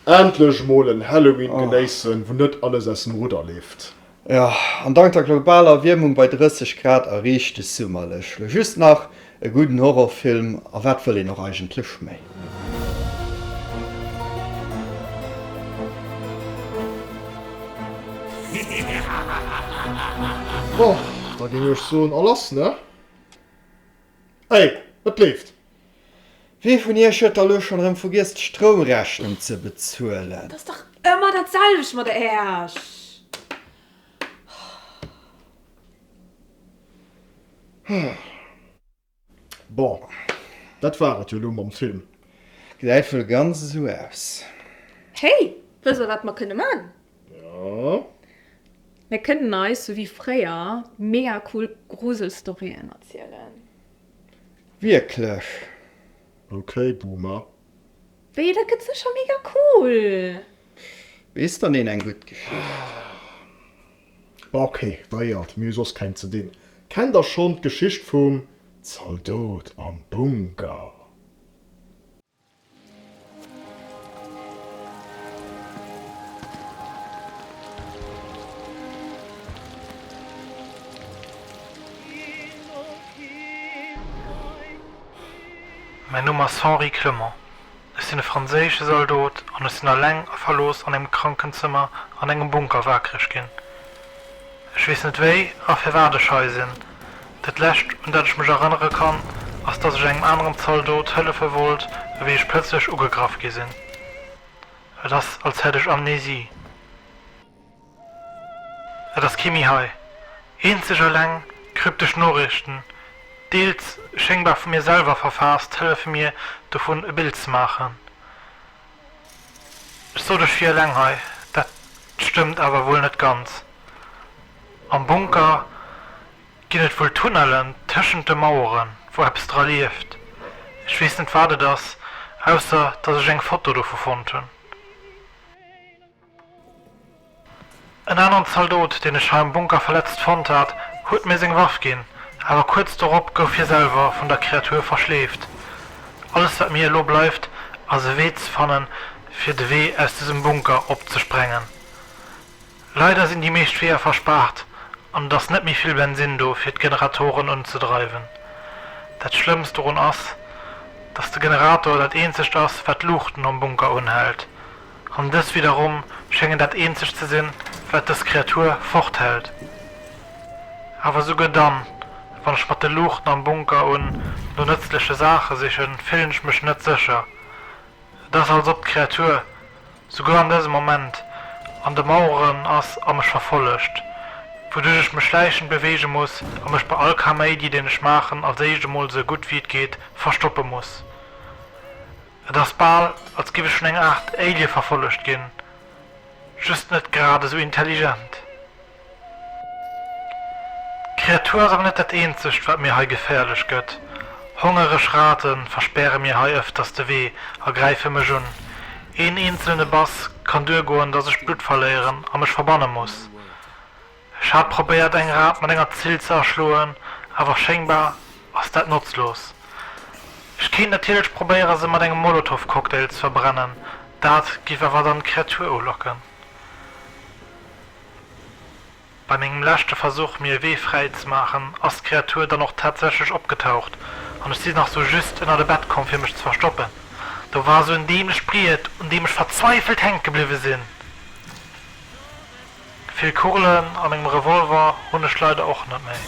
Endlech mol en Halloween genéissen, wou net alles aus dem Rudder leeft. Jo, an dank der globaler Erwiermung bei 30 Grad erreecht de Summer lech lo just nach. E gudden Horrorfilm, a wat wëll een och eigentlech méi? Bon, da géing ech soen, a lass, ne? Hey, et leeft! Wee vun iech huet da lo schon erem vergiess d'Stroumrechnung ze bezuelen? T'ass dach ëmmer dat selwecht mat Äech! Bon, dat war et jo lo mam Film. Gesäit wuel ganz esou aus. Hey, wësse mer wat mer kënne man? Mir kënnen eis, sou wéi fréier, mega cool Gruselstorien erzielen. Wierklech? Ok, Boomer. Wéi, dat gëtt sécher mega cool! Weess dann een eng gutt Geschicht? Ok, weiert, mir hu soss keng ze dinn. Kennt der schonn d'Geschicht vum Zaldot am Bunker? Mäin Numm ass Henri Clement. Ech sinn e franséische Saldot an ech sinn alleng a verlooss an engem Krankenzëmmer an engem Bunker wakereg ginn. Ech weess net wéi a firwat ech hei sinn. Dat lescht un dat ech mech erënnere kann, ass dass ech engem aneren Zaldot hëllefe wollt ewéi ech plëtzlech ugegraff gi sinn. Et ass als hätt ech Amnesie. Et ass kee méi hei. Eenzeg eleng kryptesch Noriichten, deels schéngbar vu mir selwer verfaasst, hëllefe mir dovun e Bild ze maachen. Ech sot ech wier eleng hei, dat stëmmt awer wuel net ganz. Am Bunker ginn et wuel Tunnellen tëschent de Maueren, wou eppes dra lieft. Ech weess net wat et ass, ausser dass ech eng Foto dovu fonnt hunn. En aneren Zaldot, deen ech hei am Bunker verletzt fonnt hat, huet mir seng Waff ginn, awer kuerz dorop gouf hie selwer vun der Kreatur verschleeft. Alles wat mir elo bleift, ass e Wee ze fanne fir de Wee aus dësem Bunker opzesprengen. Leider sinn déi meescht Weeër verspaart an et ass net méi vill Bensinn do fir d'Generatoren unzedreiwen. Dat schlëmmst dorun ass, dass de Generator dat eenzegt ass wat d'Luuchten am Bunker unhält An dës widderum schéngen dat eenzegt ze sinn, wat dës Kreatur forthält. Awer esouguer dann, wann ech mat de Luuchten am Bunker un no nëtzleche Saache sichen, fillen ech mech net sécher. Et ass, als ob d'Kreatur souguer an dësem Moment an de Maueren ass a mech verfollegt, wouduerch ech mech schläichend beweege muss a mech bei all Kaméidi, deen ech maachen, als éischt emol esou gutt wéi et geet verstoppe muss. Et ass bal als giff ech vun enger Art Alien verfollegt ginn, just net grad esou intelligent. D'Kreatur ass awer net dat eenzegt wat mir hei geféierlech gëtt. Hongereg Raten verspäre mir hei ëfters de Wee a gräife mech un. Een eenzelne Bass kann duergoen dass ech Blutt verléieren a mech verbanne muss. Ech hat probéiert eng Rad mat enger Zill ze erschloen, awer schéngbar ass dat notzlos. Ech kéint natierlech probéiere se mat engem Molotov Cocktail ze verbrennen, dat giff awer dann d'Kreatur ulocken. Bei mengem leschte Versuch mir e Wee fräi ze maachen ass d'Kreatur dann och tatsächlech opgetaucht an ech si nach sou just ënnert e Bett komm fir mech ze verstoppen. Do war sou en dämlecht Briet un deem ech verzweifelt hänke bliwwe sinn. Vill Kurlen a mengem Revolver hunn ech leider och net méi,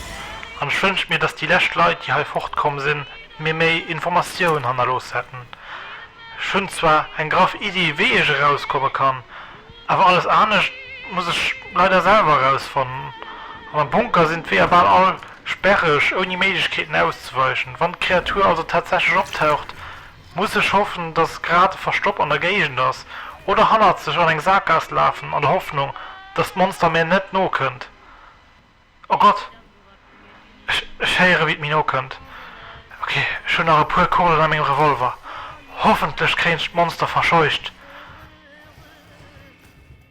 an ech wënsch mir, dass déi lescht Leit, déi hei fortkomm sinn, mir méi Informatioun hannerlooss hätten. Ech hunn zwar eng graff Iddi, wéi ech erauskomme kann, awer alles anescht muss ech leider selwer erausfannen. An am Bunker sinn d'Weeër bal all sperreg, ouni Méiglechkeeten auszeweichen. Wann d'Kreatur also tatsächlech optaucht, Muss ech hoffen, dass grad e Verstopp an der Géigend ass, oder hannerzeg an eng Saakgaass lafen an der Hoffnung, dass d'Monster mir net nokënnt? O Gott! Ech, ech héiere wéi et mir nokënnt. Ok, ech hunn nach e puer Kugelen a mengem Revolver. Hoffentlech kréien ech d'Monster verscheucht.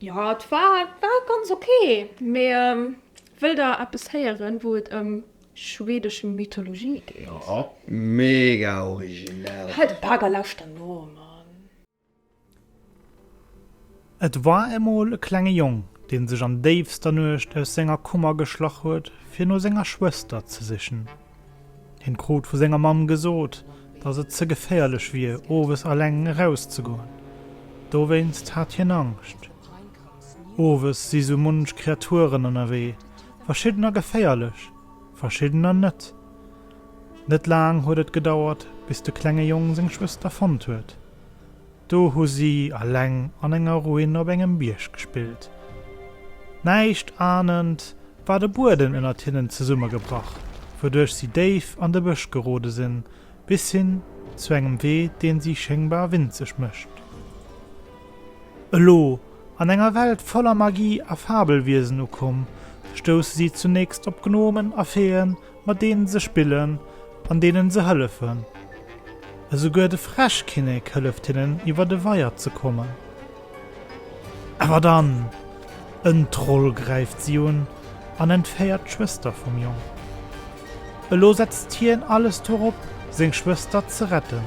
Jo et war war ganz ok, mee wëll der eppes héieren wou et ëm schwedesch Mythologie geet? Jo mega originell! Halt de Bak a lauschter no Mann! Et war emol e klenge Jong, dee sech an déifster Nuecht aus senger Kummer geschlach huet, fir no senger Schwëster ze sichen. Hien krut vu senger Mamm gesot, dass et ze geféierlech wier, owes alleng erauszegoen. Dowéinst hat hien Angscht. Owes si sou munch Kreaturen ënnerwee, verschiddener geféierlech, verschiddener net. Net laang huet et gedauert, bis de klenge Jong seng Schwëster fonnt huet. Do hu si alleng an enger Ruin op engem Bierg gespillt. Näischt ahnend war de Bueden ënnert hinnen zesummegebrach, wouduerch si déif an de Bësch gerode sinn, bis hin zu engem Wee, deen si schéngbar winzeg mécht. Elo, an enger Welt voller Magie a Fabelwiesen ukomm, stousse si zunächst op Gnomen a Feeën, mat deenen se spillen an deenen se hëllefen. Esouguer de Fräschkinnek hëlleft hinnen iwwer de Weier ze kommen. Awer dann! En Troll gräift si un an entféiert d'Schwëster vum Jong. Elo setzt hien alles dorop seng Schwëster ze retten.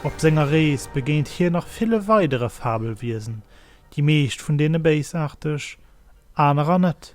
Op senger Rees begéint hien nach ville weidere Fabelwiesen, déi meescht vun deene béisaarteg, anerer net.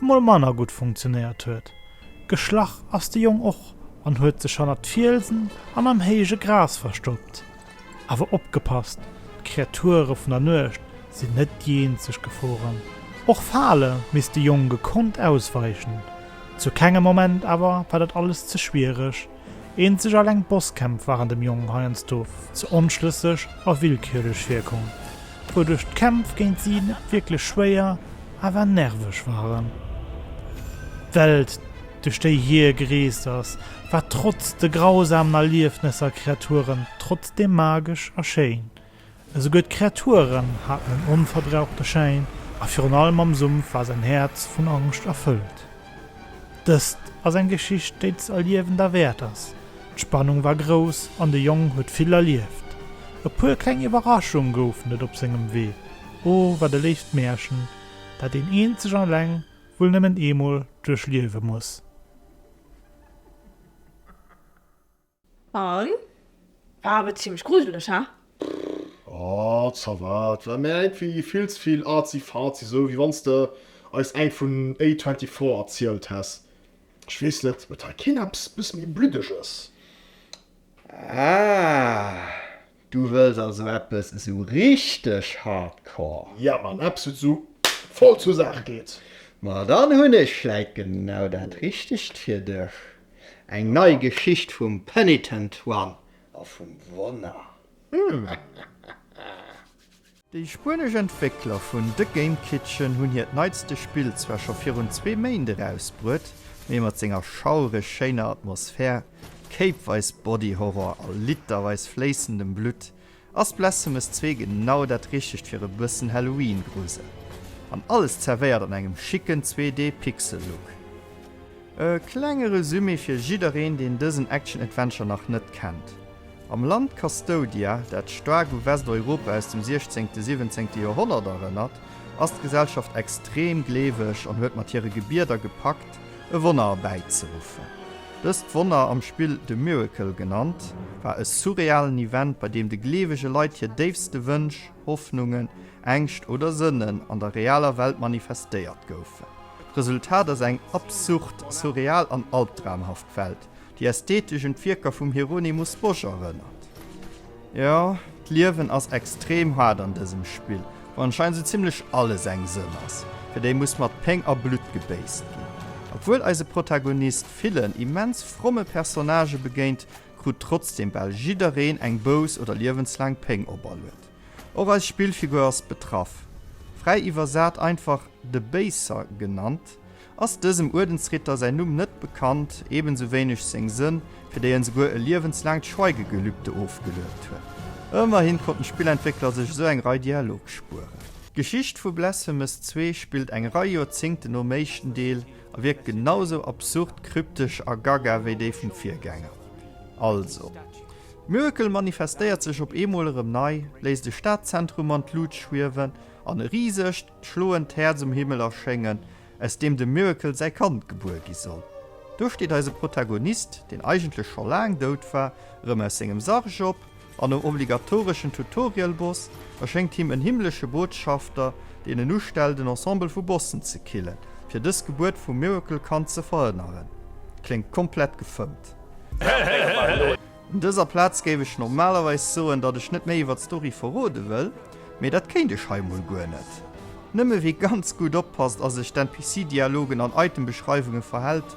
emol manner gutt funktionéiert huet. Geschlach ass de Jong och an huet sech hannert d'Fielsen an am héije Gras verstoppt. Awer opgepasst, d'Kreature vun der Nuecht sinn net déi eenzeg Geforen. Och Fale misst de Jong gekonnt ausweichen. Zu kengem Moment awer war dat alles ze schwiereg. Eenzeg alleng d'Bosskämpf waren dem Jong heiansdo ze onschlësseg a willkürlech virkomm, wouduerch d'Kämpf géint si net wierklech schwéier, awer nerveg waren. D'Welt, duerch déi hie gereest ass, war trotz de grausamen Erliefnesser a Kreaturen trotzdeem magesch a schéin. Esouguer d'Kreaturen haten en onverbrauchte Schäin a virun allem am Sumpf war säin Häerz vun Angscht erfëllt. Dëst ass eng Geschicht, déi z'erliewen derwäert ass. D'Spannung war grouss an de Jong huet vill erlieft. E puer kleng Iwwerraschung goufen et op sengem Wee. O wat e léift Mäerchen, dat een eenzeg an eleng wuel nëmmen eemol duerchliewe muss. An? Ah, awer zimmlech gruseleg, ha? Oh, ça va, et war mir iergendwéi vill ze vill arzi-fazi, sou wéi wann s de eis eng vun A24 erzielt häss. Ech weess net, huet hei keen eppes bësse méi Bluddeges? Ah. Du wëlls also eppes esou richteg hardcore? Ja Mann, eppes wat esou voll zur Saach geet. Ma dann hunn ech vläit genau dat richtegt fir dech, eng nei Geschicht vum Penitent One a vum Wonner. Déi spuenesch Entwéckler vun The Game Kitchen hunn hiert neitste Spill zwar scho virun zwee Méint erausbruet, mee mat senger schaureg schéiner Atmosphär, kéipweis Body-Horror a literweis fléissendem Blutt ass Blasphemous zwee genau dat Richtegt fir e bëssen Halloween-Grusel. An alles zerwéiert an engem schicken 2D-Pixel-Look. E klenge Resumé fir jiddereen, deen dësen Action-Adventure nach net kennt. Am Land Custodia, dat staark u Westeuropa aus dem 16., 17. Joerhonnert erënnert, ass d'Gesellschaft extrem gleeweg an huet mat hire Gebieder gepackt, e Wonner erbäizeruffen. Dëst Wonner, am Spill The Miracle genannt, war e surrealen Event, bei deem de gleewege Leit hir déifste Wënsch, Hoffnungen, Ängscht oder Sënnen an der realer Welt manifestéiert goufen. D'Resultat ass eng absurd, surreal an albdramhaft Welt, déi ästhetesch un d'Wierker vum Hieronymus Bosch erënnert. Jo, d'Liewen ass extrem haart an dësem Spill, wou anscheinend sou zimlech alles eng Sënn ass, fir déi muss mat Péng a Blutt gebéisst ginn. Obwuel eise Protagonist villen immens fromme Personnagë begéint, krut trotzdeem bal jiddereen eng Bouss oder liewenslaang Péng operluet. Och eis Spillfigur ass betraff. Fräi iwwersat einfach de Béiser genannt, ass dësem Uerdensritter säin Numm net bekannt, ebensu wéineg seng Sënn, fir déi en souguer e liewenslaangt Schweigegelübde ofgeluet huet. Ëmmerhin konnten d'Spillentwéckler sech esou eng Rei Dialog spueren. D'Geschicht vu Blasphemous 2 spillt eng Rei Joerzéngten nom éischten Deel A wierkt genau sou absurd, kryptesch a gaga wéi déi vum Virgänger. Also, d'Miracle manifestéiert sech op eemol erëm nei, léisst e Stadzentrum an d'Luucht schwiewen an e risegt, schloend Häerz um Himmel erschéngen, aus deem dem Miracle säi Kand gebuer gi soll. Do steet eise Protagonist, deen eigentlech scho laang dout war, erëm aus sengem Sarg op, An nom obligatoreschen Tutorial-Boss erschéngt him en himmlesche Botschafter, deen en ustellt, en Ensemble vu Bossen ze killen, fir dës Gebuert vum Miracle-Kand ze verhënneren. Kléngt komplett gefëmmt. Un dëser Plaz géif ech normalerweis soen, datt ech net méi iwwer d'Story verrode wëll, mee dat kéint ech hei mol guer net. Nëmme wie ganz gutt oppasst a sech d'NPC-Dialogen an Item-Beschreiwunge verhält,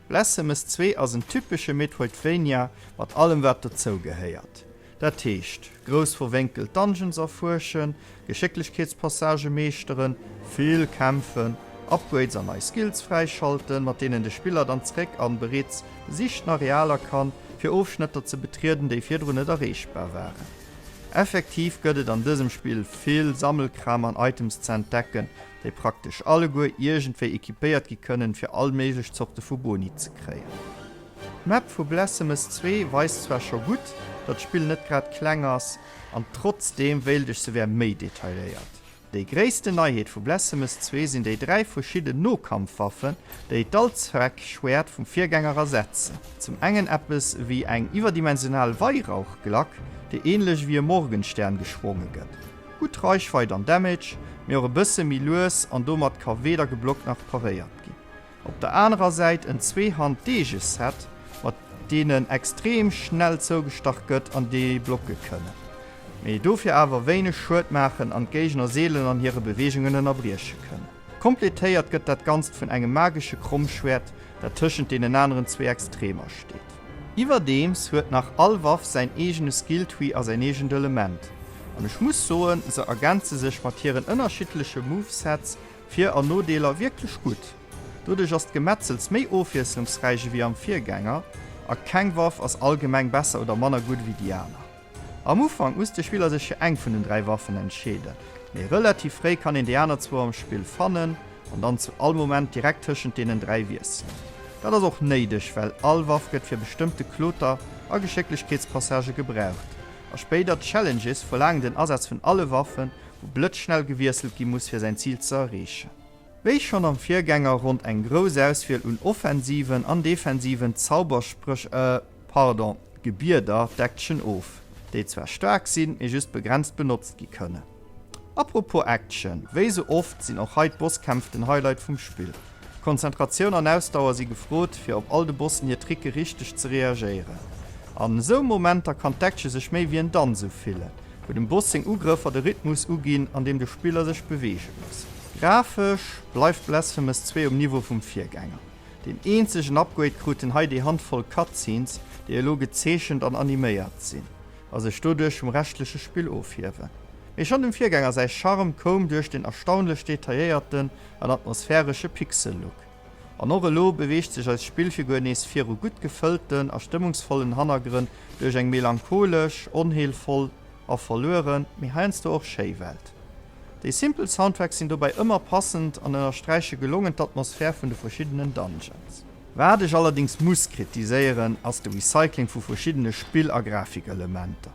Blasphemous 2 ass en typesche Metroidvania mat allem wat dozou gehéiert. Dat heescht, grouss verwénkelt Dungeons erfuerschen, Geschécklechkeetspassagë meeschteren, vill kämpfen, Upgrades an nei Skills fräischalten, mat deenen de Spiller dann zeréck an bereets besichten Arealer kann, fir Ofschnëtter ze betrieden, déi virdrun net erreechbar waren. Effektiv gëtt et an dësem Spill vill Sammelkram an Items ze entdecken, déi praktesch alleguer iergendwéi equipéiert gi kënnen, fir all méiglech Zorte vu Boni ze kréien. D'Map vu Blasphemous 2 weist zwar scho gutt, datt d'Spill net grad kleng ass, an trotzdeem wéilt ech, se wär méi detailéiert. Déi gréissten Neiheet vu Blasphemous 2 sinn déi dräi verschidden Nokampfwaffen, déi d'Allzweckschwäert vum Virgänger ersetzen. Zum engen eppes ewéi eng iwwerdimensional Weihrauchglack, déi änlech ewéi e Morgenstern geschwonge gëtt. Gutt Reichweit an Damage, mee och e bësse méi lues an domat ka weder geblockt nach paréiert ginn. Op der anerer Säit en Zweehand Deeges Set, mat deenen extrem schnell zougestach gëtt an déi blocke kënnen, mee dofir awer wéineg Schued maachen an d'Géigner seelen an hire Beweegungen ënnerbrieche kënnen. Kompletéiert gëtt dat Ganzt vun engem magesche Krommschwäert, dat tëschent deenen aneren zwee Extremer steet. Iwwerdeems huet nach all Waff säin eegene Skilltree a säin eegent Element, an ech muss soen, se ergänze sech mat hiren ënnerschiddleche Movesets, Vir an Nodeeler, wierklech gutt. Doduerch ass d'Gemetzels méi ofwiesslungsräich ewéi am Virgänger, a keng Waff ass allgemeng besser oder manner gutt ewéi déi aner. Am Ufank muss de Spiller sech fir eng vun den dräi Waffen entscheeden, mee relativ fréi kann een déi aner zwou am Spill fannen an dann zu all Moment direkt tëschent deenen dräi wiesselen. Dat ass och néideg, well all Waff gëtt fir bestëmmte Kloter a Geschécklechkeetspassagë gebraucht a spéider Challenges verlaangen den Asaz vun alle Waffen, wou blëtzschnell gewiesselt gi muss fir säin Zil ze erreechen. Wéi schonn am Virgänger ronnt eng grouss Auswiel un offensiven an defensiven Zauberspréch. Pardon, Gebieder, d'Action of, déi zwar staark sinn, mee just begrenzt benotzt gi kënnen. Apropos Action, wéi sou oft sinn och hei d'Bosskämpf den Highlight vum Spill. Konzentratioun an Ausdauer si gefrot, fir op all de Bossen hir Tricke richteg ze reagéieren. An esou Momenter kann d'Action sech méi wéi en Danz ufillen, wou dem Boss seng Ugrëffer de Rhythmus uginn, an deem de Spiller sech beweege muss. Grafesch bleift Blasphemous 2 um Niveau vum Virgänger. Deen eenzegen Upgrade kruten hei déi Handvoll Cutscenes, déi elo gezeechent an animéiert sinn a sech doduerch vum reschtleche Spill ofhiewen. Mee schonn dem Virgänger säi Charme koum duerch den erstaunlech detailléierten an atmosphäresche Pixel-Look. An och elo beweegt sech eis Spillfigur nees viru gutt gefëllten a stëmmungsvollen Hannergrënn duerch eng melancholesch, onheelvoll a verlueren, mee heiansdo och schéi Welt. Déi simpel Soundtracks sinn dobäi ëmmer passend an ënnersträiche gelongen d'Atmosphär vun de verschiddenen Dungeons. Wat ech allerdings muss kritiséieren, ass de Recycling vu verschiddene Spill a Grafikelementer.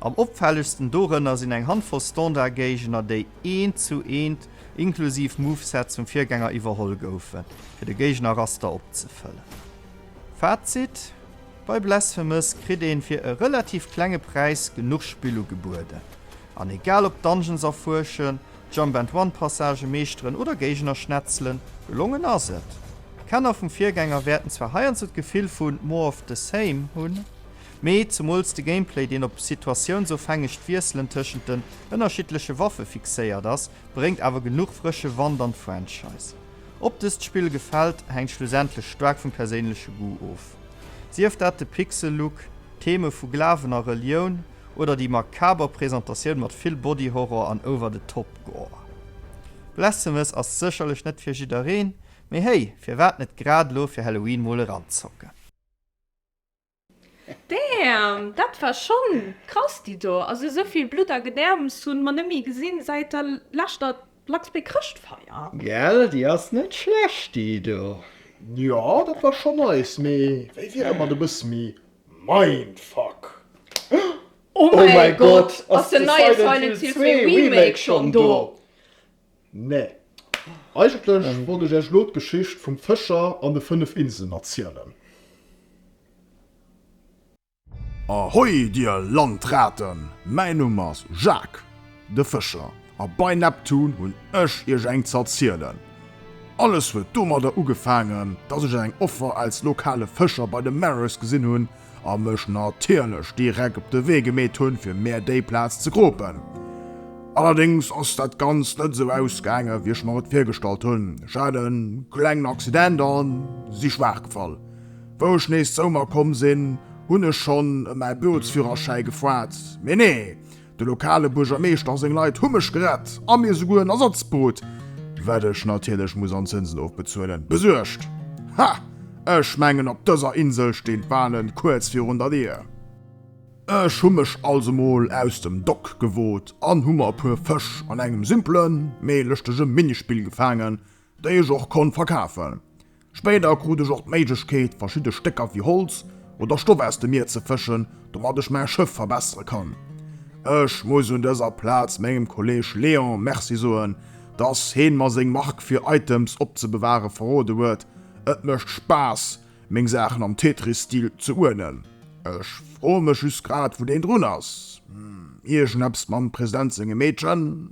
Am opfällegsten dorënner sinn eng Handvoll Standardgéigner, déi eent zu eent, inklusiv Movesets, vum Virgänger iwwerholl goufen, fir de Géignerraster opzefëllen. Fazit, Bei Blasphemous kritt een fir e relativ klenge Präis genuch Spill ugebueden. An egal ob Dungeons erfuerschen, Jump and Run Passagë meeschteren oder Géigner schnetzelen, gelongen ass et. Kenner vum Virgänger wäerten zwar heiansdo d'Gefill vu more of the same hunn, mee zemools de Gameplay, deen op situatiounsofhängegt Wiesselen tëschent den ënnerschiddleche Waffe fixéiert ass, bréngt awer genuch frësche Wand an d'Franchise. Ob dëst Spill gefält, hänkt schlussendlech staark vum perséinleche Goût of. Sief dat de Pixel-Look, d'Theme vu Glawen a Relioun, oder déi makaber Presentatioun mat vill Body Horror an Over the Top Gore. Blasphemous ass sécherlech net fir jiddereen, mee hey, firwat net grad elo fir Halloween mol eranzocken? Damn, dat war schon krass déi do. Also esou vill Blutt a Gedärms hun mer net méi gesin säit der läschter Luxpay Chrëschtfeier. Gell, déi ass net schlecht déi do. Jo, dat war schon nice, mee wéi wier et mat e bësse méi Mindfuck! Oh mäi Gott, ass den neie Silent Hill 2 Remake schonn do? Nee. Eigentlech wollt ech iech elo d'Geschicht vum Fëscher an de 5 Inselen erzielen. Ahoi dir Landraten, mäin Numm ass Jacques. De Fëscher, A bei Neptun hunn ech iech eng z'erzielen. Alles huet domadder ugefaangen, dass ech eng Offer als lokale Fëscher bei de Mares gesinn hunn a mech natierlech direkt op de Wee gemeet hunn, fir mär déi Plaz ze gropen. Allerdéngs ass dat Ganzt net esou ausgaangen, wéi ech mer et virgestallt hunn. Ech hat e klengen Accident a si schwaach gefall. Wou ech nees zou mer komm sinn, hunn ech schonn ëm mäi Bootsführerschäi gefragt, mee nee, De lokale Buergermeeschter a seng Leit hu mech gerett a mir souguer en Ersatzboot, wat ech natierlech muss an Zënsen ofbezuelen, besuergt. Ha! Ech mengen op dëser Insel stinn d'Walen kuerz virun der Dier. Ech hu mech also mol aus dem Dock gewot an hu mer e puer Fësch an engem simpelen, mee lëschtege Minispill gefaangen, déi ech och konnt verkafen. Spéider krut ech och d'Méiglechkeet, verschidde Stécker wéi Holz oder Stoff aus dem Mier ze fëschen, domat ech mäi Schëff verbessere kann. Ech muss un dëser Plaz mengem Kolleeg Léon Merci soen, dass heen mer seng Mark fir Items opzebeware verrode huet. Et mécht Spaass, meng Saachen am Tetris-Stil ze uerdnen. Ech froe mech just grad, wou deen drun ass. Hm, iergendeppes mam President sengem Meedchen?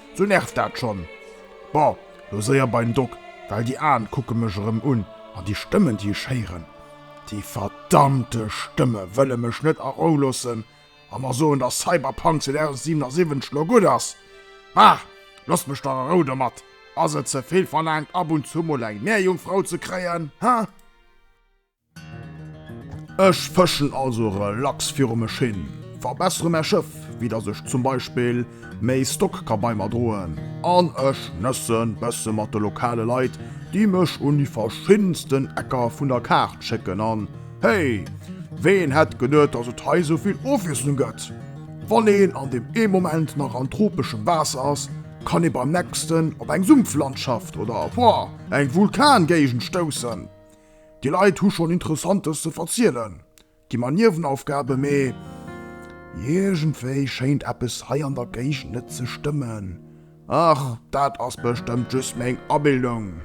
Sou nervt dat schon. Boah, lo séier bein Doc, well déi Aen kucken mech erem un, an déi Stëmmen déi ech héiren, déi verdammte Stëmmen wëllen mech net a Rou lossen a mer soen dass Cyberpunk 2077 lo gudd ass. Bah, losst mech dach a Rou domat. Ass et zevill verlaangt ab und zu mol eng Meerjungfrau ze kréien, hä? Ech fëschen also relax viru mech hin, verbessere mäi Schëff, wéi dass ech zum Beispill méi Stock ka bei mer droen, an ech nësse bësse mat de lokale Leit, déi mech un déi verschiddensten Ecker vun der Kaart schécken. An hey, ween hätt geduet, dass et hei esou vill Ofwiesslung gëtt? Wann een an deem ee Moment nach an tropeschem Waasser ass, kann ee beim nächsten op eng Sumpflandschaft oder, woah, eng Vulkangéigend stoussen. Déi Leit hu schonn Interessantes ze verzielen, gi mer Niewenaufgaben, mee iergendwéi schéint eppes hei an der Géigend net ze stëmmen. Ach, dat ass bestëmmt just meng Abildung.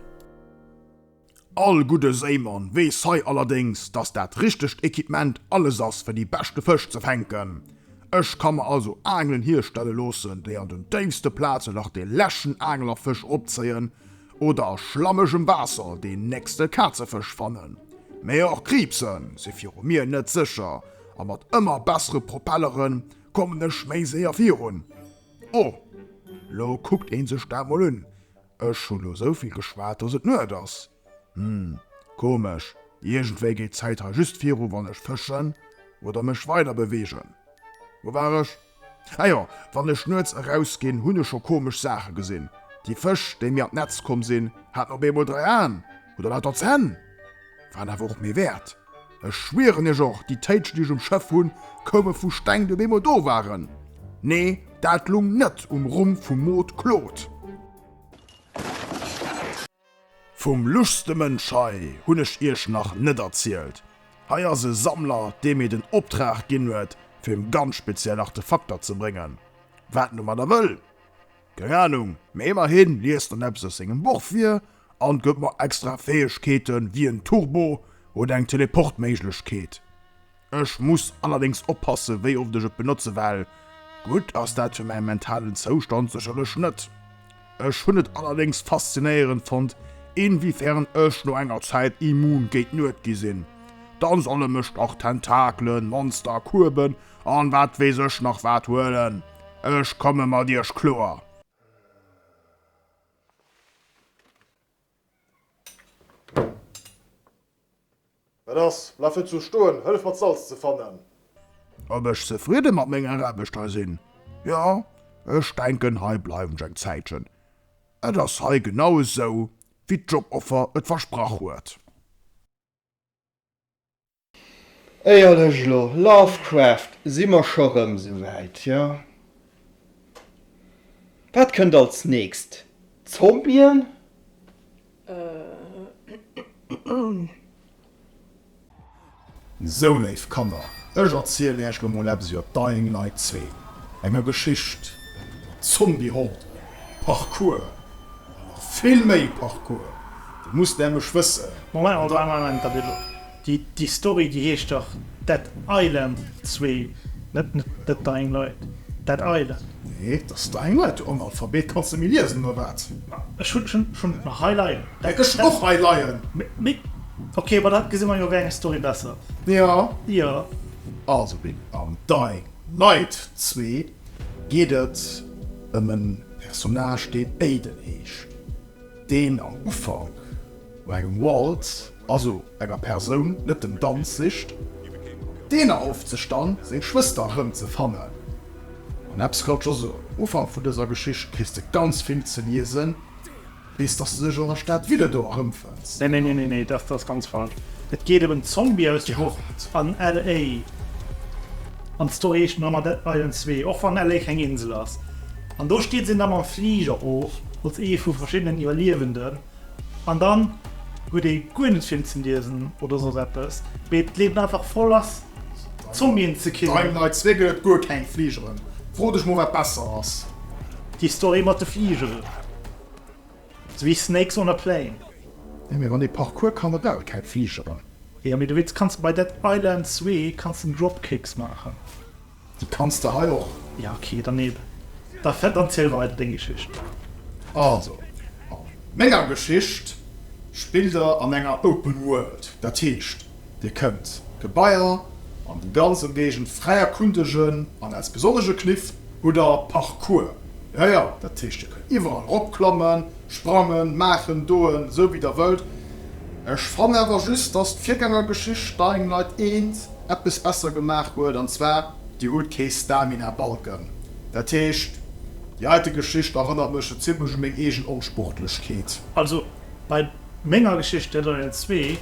All gudde Séimann weess hei allerdéngs, dass dat richtegt Equipement alles ass, fir déi beschte Fësch ze fänken. Ech ka mer also Aangelen hierstelle loossen, déi an den déifste Plazen nach dee leschten Aanglerfësch opzéien, Oder a schlammegem Waasser deen nächste Kazefësch fannen. Mee och Kriibse si viru mir net sécher, a mat ëmmer bessere Propellere kommen ech méi séier virun. O, lo kuckt ee sech dat mol un, ech hu lo souvill geschwat, dass et Nuet ass. Hm, komesch, iergendwéi geet d'Zäit hei just viru wann ech fëschen oder mech weider beweegen. Wou war ech? Ah jo, wann ech nuets eraus ginn, hunn ech scho komesch Saache gesinn. Déi Fësch, déi mir an d'Netz komm sinn, haten op eemol dräi Aen oder lauter Zänn. Waren awer och méi wäert. Ech schwieren Iech, och déi Téitschen, déi ech um Schëff hunn, koume vu Steng, déi op eemol do waren. Nee, dat lung net um Rumm vum Mod Claude. Vum luschste Mënsch hei hunn ech iech nach net erzielt. Hei ass e Sammler, dee mir den Optrag ginn huet, fir em ganz speziell Artefakter ze bréngen. Wat en domadder wëll? Keng Anung, mee ëmmerhi liest en eppes aus sengem Buch vir an gëtt mer extra Fäegkeeten, wéi en Turbo oder eng Teleportméiglechkeet. Ech muss allerdéngs oppassen wéi oft ech et benotze well gutt ass dat fir mäi mentalen Zoustand sécherlech net. Ech hunn et allerdéngs faszinéierend fonnt inwiefern ech no enger Zäit immun géint Nuet gi sinn. Dann solle mech dach Tentakelen, Monster, Kueben an wat weess ech nach wat huelen, ech komme mat iech kloer. Wat ass? Bleiw net sou stoen, hëllef mat Salz ze fannen. Ob ech zefridde mat menger Aarbecht hei sinn? Jo, ech denken hei bleiwen ech eng Zäitchen. Et ass hei genau esou wéi d'Joboffer et versprach huet. Éierlech lo, Lovecraft, si mer scho rëm souwäit, jo? Wat kënnt als nächst? Zombien? Sou, léif Kanner, ech erzielen iech lo mol eppes iwwer Dying Light 2, enger Geschicht mat Zombie-Horden, Parkour, a nach vill méi Parkour. Dir musst nämlech wëssen, Déi Story déi heescht dach Dead Island 2, net The Dying Light, Dead Island. Nee, et ass Dying Light, du Analphabet, kanns de méi liesen oder wat? Ech hunn et nach hei leien. Ech hunn et och hei leien. Mee ok, ma da gesi mer jo wéi eng Story besser ass. Jo. Also Bill, am Dying Light 2 geet et ëm e Personnage deen Aiden heescht, deen am Ufank no engem Wald, also enger Persoun net den Danz sicht, deen erhofft sech dann seng Schwëster rëm ze fannen. An eppes ka scho soen, um Ufank vun dëser Geschicht kriss de ganz vill ze liesen, bis dass de sech an der Stad Ville do erëmfënns. Nee, nee, nee, nee, dat ass ganz falsch. Et geet ëm en Zombie aus der Jugend an LA. An d'Story heescht Mama Dead by Ends Zwee, och wann LA keng Insel ass. An do steet se da mam Fliger of, als ee vu verschiddenen Iwwerliewenden. An dann huet ee guer net vill ze liesen oder soss eppes, mee d'Liewen einfach voll ass Zombien ze killen. Dime Night 2 gëtt et guer keng Fligeren. Fro dech mol wat besser ass. Déi Story mat de Fligeren ass wéi Snakes on a Plane. Jo mee wann ee Parkour kann et aut keng Fligeren. Jo mee du weess kanns bei Dead Island 2 kanns den Dropkicks maachen. Di kanns de hei och. Ja ok, dann neem da Fett an ziel weider deng Geschicht. Also, a menger Geschicht spillt der an enger Open World. Dat heescht, dir kënnt d'Gebaier an dem ganz Ëmgéigend fräi erkundegen an als besonnege Kniff hutt der Parkour. Jo jo, dat heescht dir kënnt iwwerall eropklammen. Sprangen, maachen, doen, esou wéi der wëllt. Ech fannen awer just, dass d'Virgängergeschicht Dying Light 1 eppes besser gemaach huet, an zwar, dir hutt kee Stamina-Balken. Dat heescht, déi heite Geschicht erënnert mech scho zimmlech u meng eegen Onsportlechkeet. Also bei menger Geschicht Dead Island 2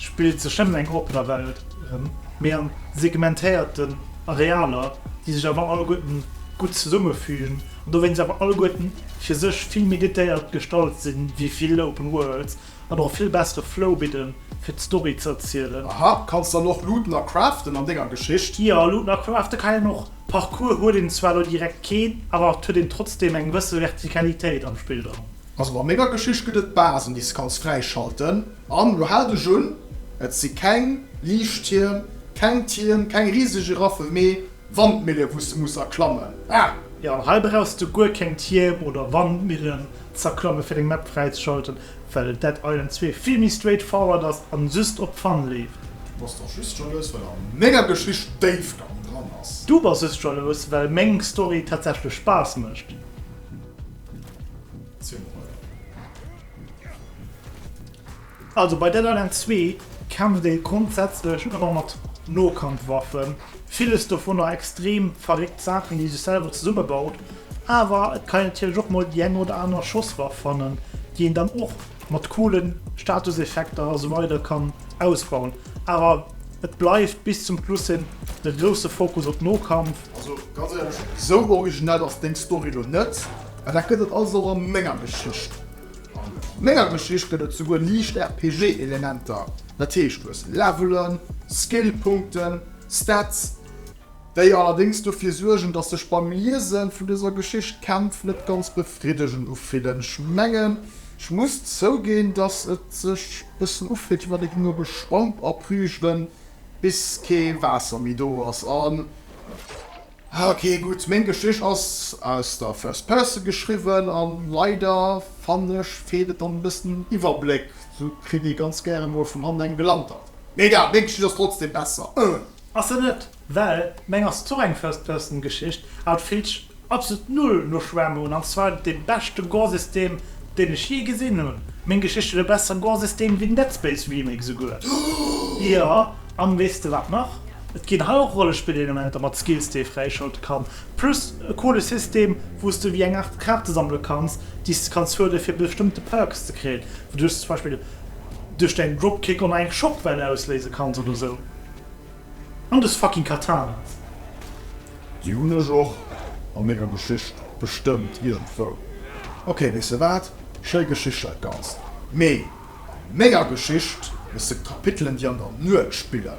spillt sech nëmmen eng oppen Welt erëm, mee a segmentéierten Arealer, déi sech awer alleguerten gutt zesummefügen an dowéinst awer alleguerten fir sech vill méi détailléiert gestalt sinn ewéi vill Open Worlds an och e vill bessere Flow bidden, fir d'Story ze erzielen. Aha, kanns dann och looten a craften an denger Geschicht? Jo, looten a crafte kann een och. Parcours huet een zwar elo direkt keen, awer et huet een trotzdeem eng gewësse Vertikalitéit am Spill dran. Also bei menger Geschicht gëtt et Basen, déi s de kanns fräischalten. An lo haalt Iech un, et si keng Liichttierm, keng Tierm, keng rieseg Giraffe, mee Wandmille wou s de muss erklammen. Ah! Jo, an hei brauchs de guer keng Tierm oder Wandmillen z'erklammen fir deng Map fräizeschalten, well Dead Island 2 vill méi straight forward ass an just op Fun leeft. Du bass dach just jalous well an menger Geschicht Déifgang dran ass. Du bass just jalous well meng Story tatsächlech Spaass mécht. Ziel Morail. Also bei Dead Island 2 kämpft ee grondsätzlech ëmmer mat Nokampfwaffen, villes dovunner extrem verréckt Saachen, déi ee sech selwer zesumme baut, awer et kann een natierlech och mol déi eng oder aner Schosswaff fannen, déi een dann och mat coole Statuseffekter a sou weider kann ausbauen. Awer et bleift bis zum Schluss hin de grousse Fokus op Nokampf. Also ganz éierlech, sou originell ass deng Story lo net. A dat gëtt et also och a menger Geschicht. A menger Geschicht gëtt et souguer liicht RPG-Elementer, dat heescht du hues Levelen, Skill-Punkten, Stats, déi allerdéngs dofir suergen, datt sech beim Liese vun dëser Geschicht d'Kämpf net ganz befriddegend ufillen. Ech mengen, ech muss zouginn, datt et sech e bëssen ufillt, wéi wann ee géing op e Schwamp abrüjelen, bis kee Waasser méi do ass. Ah ok gutt, meng Geschicht ass aus der first person geschriwwen an leider fannen ech feelt et dann e bëssen Iwwerbléck, sou kritt ee ganz gären mol vun hannen eng gelantert. Mee egal, meng Geschicht ass trotzdem besser. Ass se net, well meng ass zwar och eng first person Geschicht, awer et fillt sech absolut null no Schwämme un, an zwar dee beschte Gorsystem deen ech jee gesinn hunn. Meng Geschicht huet e bessere Gorsystem wéi den Dead Space Remake esouguer, jo an weess de wat nach? Et ginn hei och Rollespillelementer mat Skills déi ee fräischalte kann, plus e coole System wou s de wéi eng Aart Kaarte sammele kanns, déi s de kanns huele fir bestëmmte Perks ze kréien, wouduerch s de zum Beispill duerch däin Dropkick online eng Schockwell ausléise kanns oder sou. An dës fucking Katanas! Déi hunn ech och a menger Geschicht bestëmmt iergendwou. Ok, weess de wat, schéi Geschicht dat Ganzt, mee. An menger Geschicht gëtt se Kapitelen, déi an der Nuet spillen.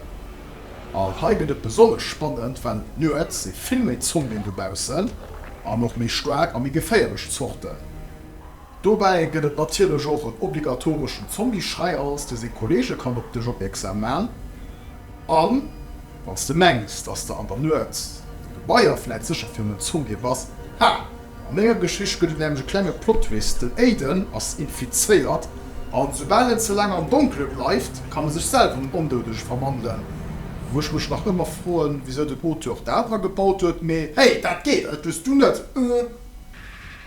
An hei gëtt et besonnesch spannend, well nuets si vill méi Zombien dobaussen an och méi staark a méi geféierlech Zorten. Dobäi gëtt et natierlech och en obligatoreschen Zombie-Schreiers, dee seng Kolleege kann op dech opmierksam man. An wann s de mengs, dass de an der Nuet de Gebaier vläit sécher virun en Zombie bass, ha! An enger Geschicht gëtt et nämlech e klenge Plottwist, Den Aiden ass infizéiert a soubal en ze laang am Donkele bleift, kann e sech selwer an en Ondoudege verwandelen. Wou ech mech nach ëmmer froen, wisou den Auteur dat agebaut huet, mee hey, dat geet, dat hues du net, ëh.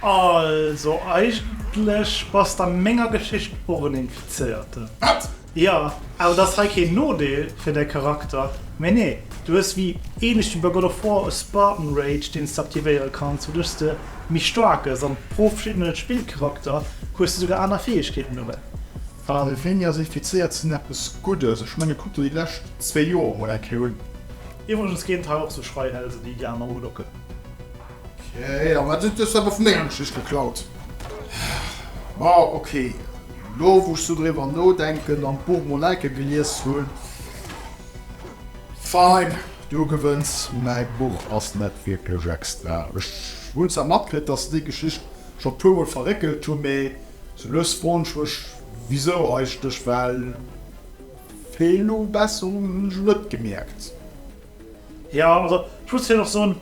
Also eigentlech bass der menger Geschicht och en Infizéierten. Wat? Jo, awer et ass hei keen Nodeel fir däi Charakter. Mee nee, du hues wéi ähnlech wéi bei God of War e Spartan Rage deen s de aktivéiere kanns, wouduerch s de méi staark gëss an pro verschiddene Spillcharakter hues de souguer aner Fäegkeeten dobäi. An e wéini ass infizéiert sinn eppes Guddes? Ech mengen kuck der déi lescht zwee Joer mol eng Kéier un. Iwwregens kéint hei och sou Schreihälse wéi déi aner udocken. Okay, an wat huet dech dat op mengem Tisch geklaut? Ma ok, lo wou ech sou driwwer nodenken an d'Buch mol enke gelies hunn, fine, du gewënns. Mäi Buch ass net wierklech extra. Ech hunn zwar matkritt, dass se déi Geschicht scho e puermol verréckelt hunn, mee sou lues froen ech mech wisou eigentlech, well vill Nobesserungen hunn ech net gemierkt. Jo, also ech muss fir och soen,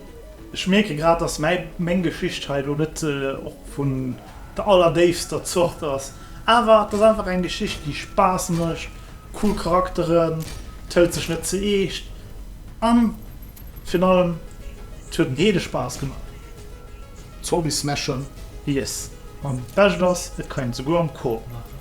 ech mierke grad, dass mäi, meng Geschicht hei elo net och vun der allerdéifster Zort ass, awer et ass einfach eng Geschicht, déi Spaass mécht, cool Charakteren, et hëlt sech net ze eescht an virun allem et huet en heede Spaass gemaach Zombies smashen. Yes, an d'Bescht ass, et kann een et souguer am Coop maachen.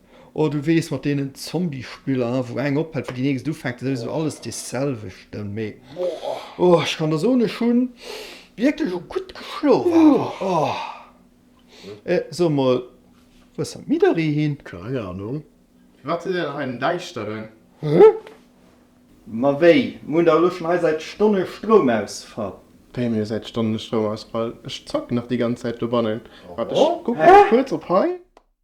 Oh du wees mat deenen Zombie Spiller wou eng ophällt wou déi nächst ufänkt dat ass souwisou alles dee selwechten mee oh ech kann der soen ech hunn wierklech och gutt geschlof awer oh eh so mol wou ass Midori hin? Keng Ahnung. Wat huet een hei en Däischteren? Huh? Ma wéi, mir hunn dach elo schon hei säit Stonne Stroumausfall. Wéi mir säit Stonne Stroumausfall? Ech zocken dach déi ganz Zäit dobannen. Waart ech kucken kuerz op hei.